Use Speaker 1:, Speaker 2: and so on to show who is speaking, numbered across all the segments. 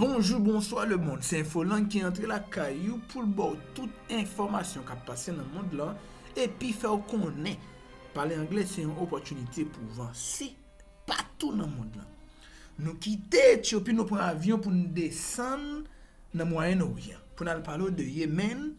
Speaker 1: Bonjou bonswa le mond se infoland ki antre lakay ou poul baw tout enfòmasyon kap pase nan mond lan epi fèw konnen pale anglè se yon opòtinite pou vanse patou nan mond lan nou kite etyopi nou pran avyon poun desann nan mwayenn oryan poun al pale w de yemenn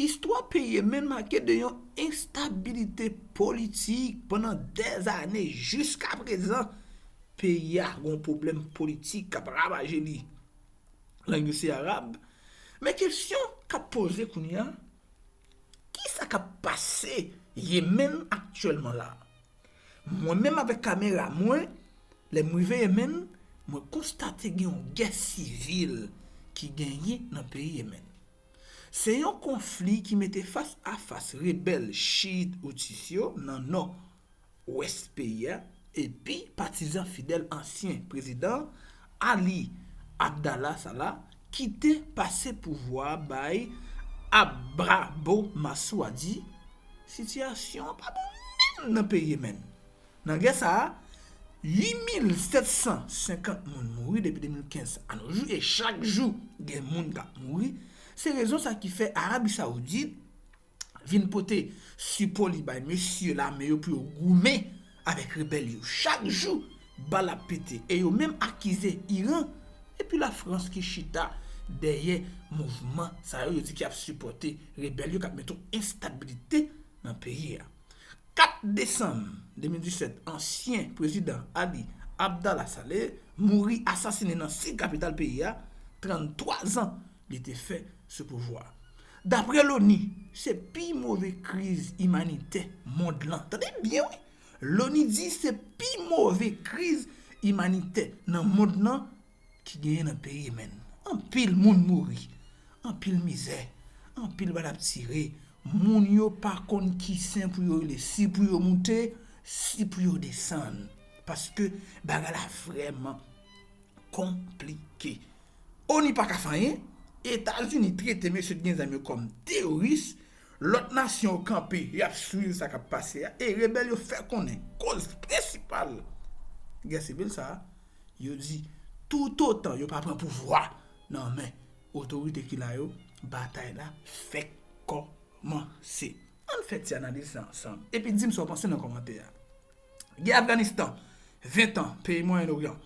Speaker 1: Istwa peyi Yemen make de yon enstabilite politik pandan dè ane jiska prezan. Peyi a gen yon pwoblèm politik k ap ravaje li. Lang yo se arab. Men kesyon k ap poze kounye a, kisa k ap pase Yemen aktyèlman la? Mwen menm avèk kamera mwen, lè m rive Yemen, mwen konstate gen yon gè sivil ki genyen nan peyi Yemen. Se yon konfli ki mete fas a fas rebèl Chiit Houthis yo nan nò, wès peyi a, epi patizan fidèl ansyen prezidan Ali Abdallah Sallah Kite pase pouvwa a bay Abrabo Masuadi, sitiyasyon an pa bon menm nan peyi Yemen. Nan gè sa a, 8.750 moun mouri depi 2015 a no jou e chak jou gen moun k ap mouri, se rezon sa ki fè Arabi Saoudit vin pote sipo li bay mesye lame yo pou yo goumen avèk rebèl yo. Chak jou, bal ap pete e yo menm akize Iran epi Lafrans ki chita dèyè mouvman sa yo, yo di ki ap sipòte rebèl yo k ap mete yon enstabilite nan peyi a. 4 desanm 2017, ansyen prezidan Ali Abdallah Saleh mouri asasinen nan sid kapital peyi a, 33 zan li te fè sou pouvwa. Dapre loni, se pi move kriz imanitè mond lan. Tande byen wi! Loni di se pi move kriz imanitè nan mond lan ki genyen nan peyi Yemen. Anpil moun mouri, anpil mizè, anpil bal ap tire, moun yo pa konn ki sen pou yo rele, si pou yo moute, si pou yo desann. Paske bagay la vrèman Konplike. Onu pa ka fè anyen, Etazini trete mesye t gen zam yo kòm teyoris, lòt nasyon yo kanpe yap swiv sa kap pase a e rebèl yo fè konnen koz prensipal gè sivil sa a, yo di toutotan yo pa pran pouvwa nan men otorite ki la yo, batay la fèk kòmanse. Ann fè ti analiz sa ansanm epi dim sa w panse nan kòmantè a. Gè Afganistan, 20 tan, peyi Mwayen Oryan.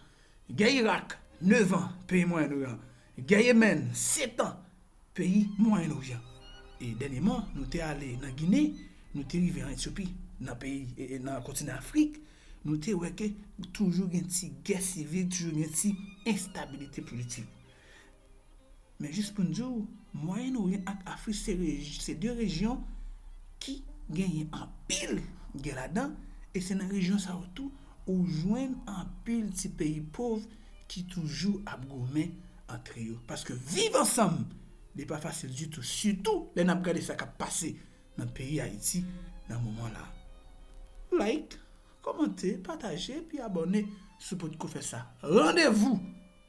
Speaker 1: Gè Irak, 9 an, peyi Mwayen Oryan. Gè Yemèn, 7 an, peyi Mwayen Oryan. E dènyeman, nou te ale nan Gine, nou te rive an Etyopi, nan peyi, nan kontinan Afrik, nou te wè ke toujou gen ti gè sivil, toujou gen ti enstabilite politik. Men jis pou n di w, Mwayen Oryan ak Afrik se 2 rejyon ki genyen anpil gè ladan e se nan rejyon sa yo tou ou jwenn anpil ti peyi pov ki toujou ap goumen antre yo paske viv ansanm li pa fasil ditou sitou lè n ap gade sa k ap pase nan peyi Ayiti nan moman la. Like, kòmante, pataje epi abòne si w potko fè sa. Randevou!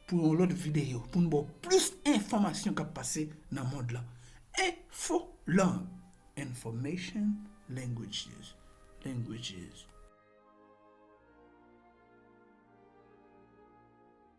Speaker 1: pou yon lòt videyo pou n ba w plis enfòmasyon k ap pase nan mond lan Enfo lang Information Languages Languages.